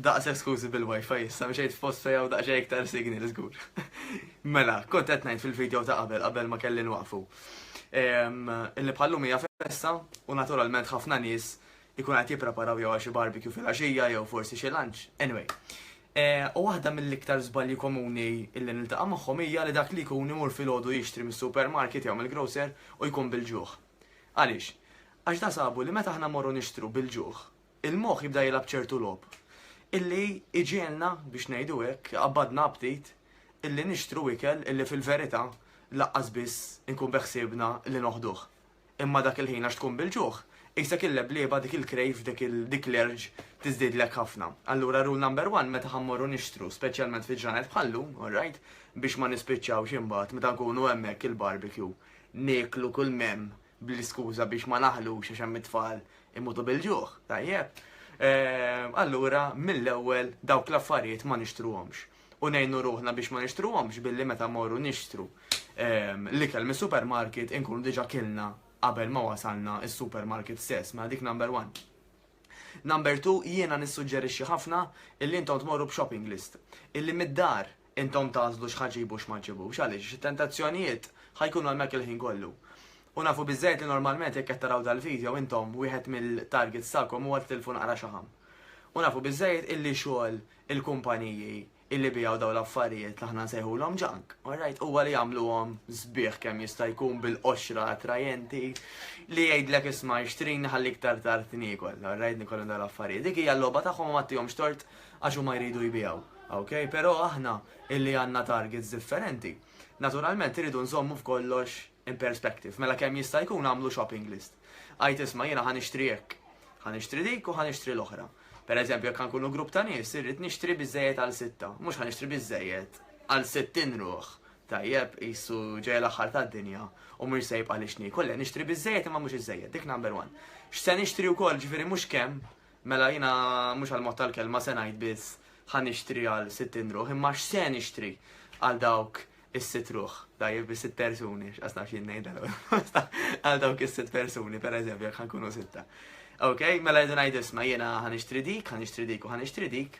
Daqshekk skużi bil-wifi issa mxejt f'post fejn hawn daqsxejn iktar signal żgur. Mela, kont qed ngħid fil-video ta' qabel qabel ma kelli nwaqfu. Illi bħallum hija festa u naturalment ħafna nies ikunu qed jippreparaw jew għal xi barbecue filgħaxija jew forsi xi lunch, anyway. U waħda mill-iktar żbalji komuni illi niltaqa' magħhom hija li dak li jkun imur filgħodu jixtri mis-supermarket jew mill-grocer u jkun bil-ġuħ. Għaliex? Għax da sabu li meta aħna mmorru nixtru bil-ġuħ, il-moħħ jibda jilgħab ċertu logħob illi iġielna biex ngħidu hekk, qabadna aptit illi nixtru ikel illi fil-verità laqqas biss inkun beħsiebna li noħduh. Imma dak il-ħin għax tkun bil-ġuħ, qisek il-leblieba dik il-krejf dik l-għerġ tiżdiedlek ħafna. Allura rule number one meta ħa mmorru nixtru, speċjalment fi ġranet bħal llum, alright, biex ma nispiċċawx imbagħad meta nkunu hemmhekk il-barbecue nieklu kull m'hemm bl-iskuża biex ma naħlux għax hemm it-tfal imutu bil-ġuħ, tajjeb? Allura mill-ewwel dawk l-affarijiet ma nixtruhomx. u ngħinu ruħna biex ma nixtruhomx billi meta mmorru nixtru l-ikel mis-supermarket inkunu diġà kilna qabel ma wasalna s-supermarket stess, mela dik number one. Number two, jiena nissuġġerixxi ħafna illi intom tmorru b'shopping list. Illi mid-dar intom tagħżlu x'ħa ġibu x'ma ġibux għaliex xi tentazzjonijiet ħajkunu hemmhekk il-ħin kollu. U nafu biżżejjed li normalment jekk qed taraw dal-video intom wieħed mill-targets tagħkom huwa titilfu naqra xaħam. U nafu biżżejjed illi xogħol il-kumpaniji illi biegħu dawn l-affarijiet li aħna nsejħulhom junk, alright, huwa li jagħmluhom sbieħ kemm jista' jkun bil-qoxra attrajenti li jgħidlek isma' ixtrini ħalli iktar tard niekol, alright, nikol dawn l-affarijiet. Dik hija l-logħba tagħhom ma tihomx tort għax huma jridu jbiegħu. Okay? Però aħna illi għandna targets differenti, naturalment iridu nżommu f'kollox in perspective, mela kemm jista' jkun għamlu shopping list. Għajt isma' jiena ħa nixtri hekk, ħa nixtri dik u ħa nixtri l-oħra. Per eżempju, jekk nkunu grupp ta' nies, irrid nixtri biżejjed għal sitta, mhux ħa nixtri biżejjed għal sittin ruħ. Tajjeb, qisu ġej l-aħħar tad-dinja u mhux se jibqa' li xni. Kollha nixtri biżejjed imma mhux iżejjed, dik number one. X'se nixtri wkoll ġifieri mhux kemm, mela jiena mhux għal mod tal-kelma se ngħid biss ħa nixtri għal sittin ruħ, imma x'se nixtri għal dawk is-sitt ruħ, tajjeb is-sitt persuni, x'qas naf jien ngħidha għal dawk is-sitt persuni, per eżempju, jekk ħankunu sitta. Ok, mela jdu ngħid isma' jiena ħanixtri dik, ħanixtri dik u ħanixtri dik.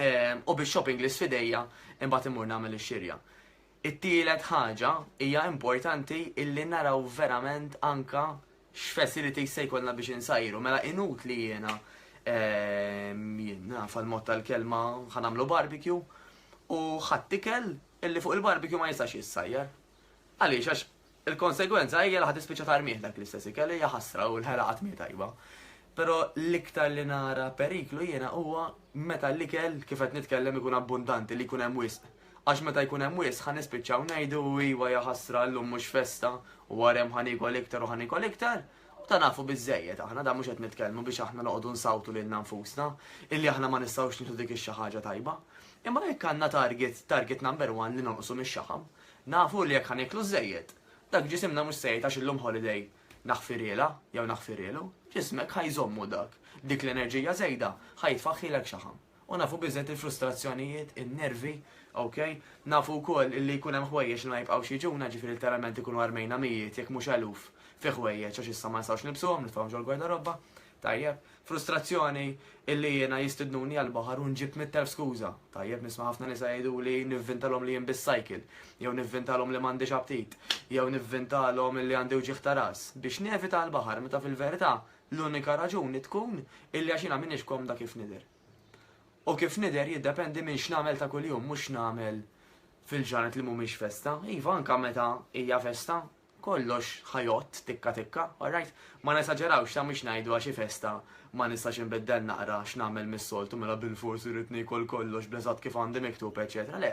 Ehm, u biex shopping list fidejja imbagħad imur nagħmel ix-xirja. It-tielet ħaġa hija importanti illi naraw verament anka x'facilities se jkollna biex insajru, mela inutli jiena jien naf għal-mod tal-kelma ħanamlu barbecue u ħadd ikel illi fuq il-barbecue ma jistax jissajjar. Għaliex għax il-konsegwenza hija li ħadd ispiċċa tarmih dak l-istess ikel hija ħasra u l-ħela qatt mi tajba. Però l-iktar li nara periklu jiena huwa meta l-ikel, kif qed nitkellem, ikun abbundanti, li jkun hemm wisq. Għax meta jkun hemm wisq ħa nispiċċaw ngħidu iva ja ħasra llum mhux festa u wara hemm ħa niekol iktar u ħa niekol iktar, u ta' nafu biżżejjed aħna, dan mhux qed nitkellmu biex aħna noqogħdu nsawtu lilna nfusna illi aħna ma nistgħux nieħdu dik ix-xi ħaġa tajba. Imma jekk għandna target, target number one li nonqsu mix-xaħam, nafu li jekk ħa nieklu żżejjed, dak ġisimna mhux se jgħid għax illum holiday, naħfirielha jew naħfirielu, ġismek ħa jżommu dak, dik l-enerġija żejda ħa jitfaħħilek xaħam. U nafu biżżejjed il-frustrazzjonijiet, in-nervi, ok? Nafu wkoll illi jkun hemm ħwejjeġ li ma jibqgħux jiġuna, ġifieri literalment ikunu armejna mijiet jekk mhux eluf fi ħwejjeġ għax issa ma nistgħux nilbsuhom, nitfgħuhom ġol-gwardarobba. Tajjeb. Frustrazzjoni illi jiena jistidnuni għall-baħar u nġib mitt elf skuża. Tajjeb, nisma' ħafna nisa jgħiduli nivvintalhom li jien biss cycle, jew nivvintalhom li m'għandix aptit, jew nivvintalhom illi għandi wġigħ ta' ras, biex nevita l-baħar meta fil-verità l-unika raġuni tkun illi għax jiena m'iniex komda kif nidher. U kif nidher jiddependi minn x'nagħmel ta' kuljum mhux x'nagħmel fil-ġranet li mhumiex festa. Iva anke meta hija festa, Kollox ħa jgħodd tikka tikka, alright? Ma nesaġerawx, sa mhix ngħidu għax hi festa ma nistax inbiddel naqra x'nagħmel mis-soltu mela bilfors irrid niekol kollox bl-eżatt kif għandi miktub eċċetera, le,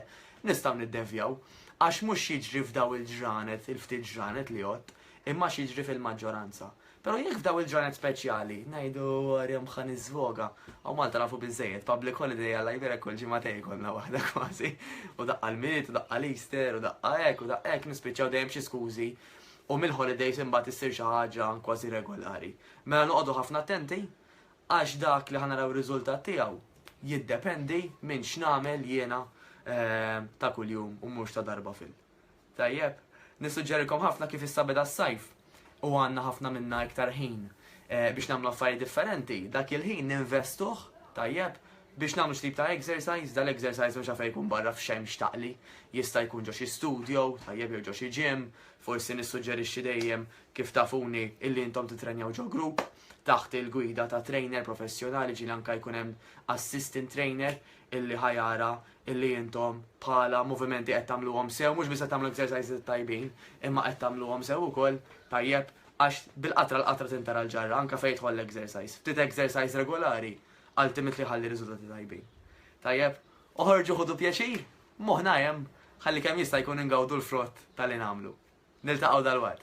nistgħu niddevjaw. Għax mhux x'jiġri f'daw il-ġranet, il-ftit ġranet li għodt, imma x'jiġri fil-maġġoranza. Pero jekk f'daw il-ġranet speċjali, najdu għarjem xan iżvoga, għaw Malta nafu bizzejiet, public holiday għalla jibirek kull ġimatej konna wahda kważi, u daqqa l-mit, u daqqa l-Easter, u daqqa ek, u daqqa ek, nispiċaw dejjem xi skużi, u mill-holidays imbagħad issir xi ħaġa kważi regolari. Mela noqogħdu ħafna attenti, għax dak li ħanaraw riżultat tiegħu jiddependi minn x'namel jiena eh, ta' kuljum u mhux ta' darba fil. Tajjeb, nissuġġerilkom ħafna kif issa beda s-sajf u għandna ħafna minna iktar ħin eh, biex nagħmlu affarijiet differenti. Dak il-ħin ninvestuh, tajjeb, biex nagħmlu xtib ta' exercise, dal-exercise mhux għafe jkun barra f'xejn xtaqli, jista' jkun ġo xi studio, tajjeb jew ġo xi gym, forsi nissuġġerixxi dejjem kif tafuni illi intom titrenjaw ġo grupp taħt il-gwida ta' trainer professjonali ġil anka jkun hemm assistant trainer illi ħajara illi intom bħala movimenti qed tagħmluhom sew, mhux biss qed tagħmlu exercises tajbin, imma qed tagħmluhom sew ukoll tajjeb għax bil-qatra l-qatra tintara l-ġarra anke fejn jidħol l-exercise. Ftit exercise regolari ultimately ħalli riżultati tajbin. Tajjeb, oħorġu ħudu pjaċir, moħna hemm ħalli kemm jista' jkun ingawdu l-frott tal-li nagħmlu. Niltaqgħu dal-waqt.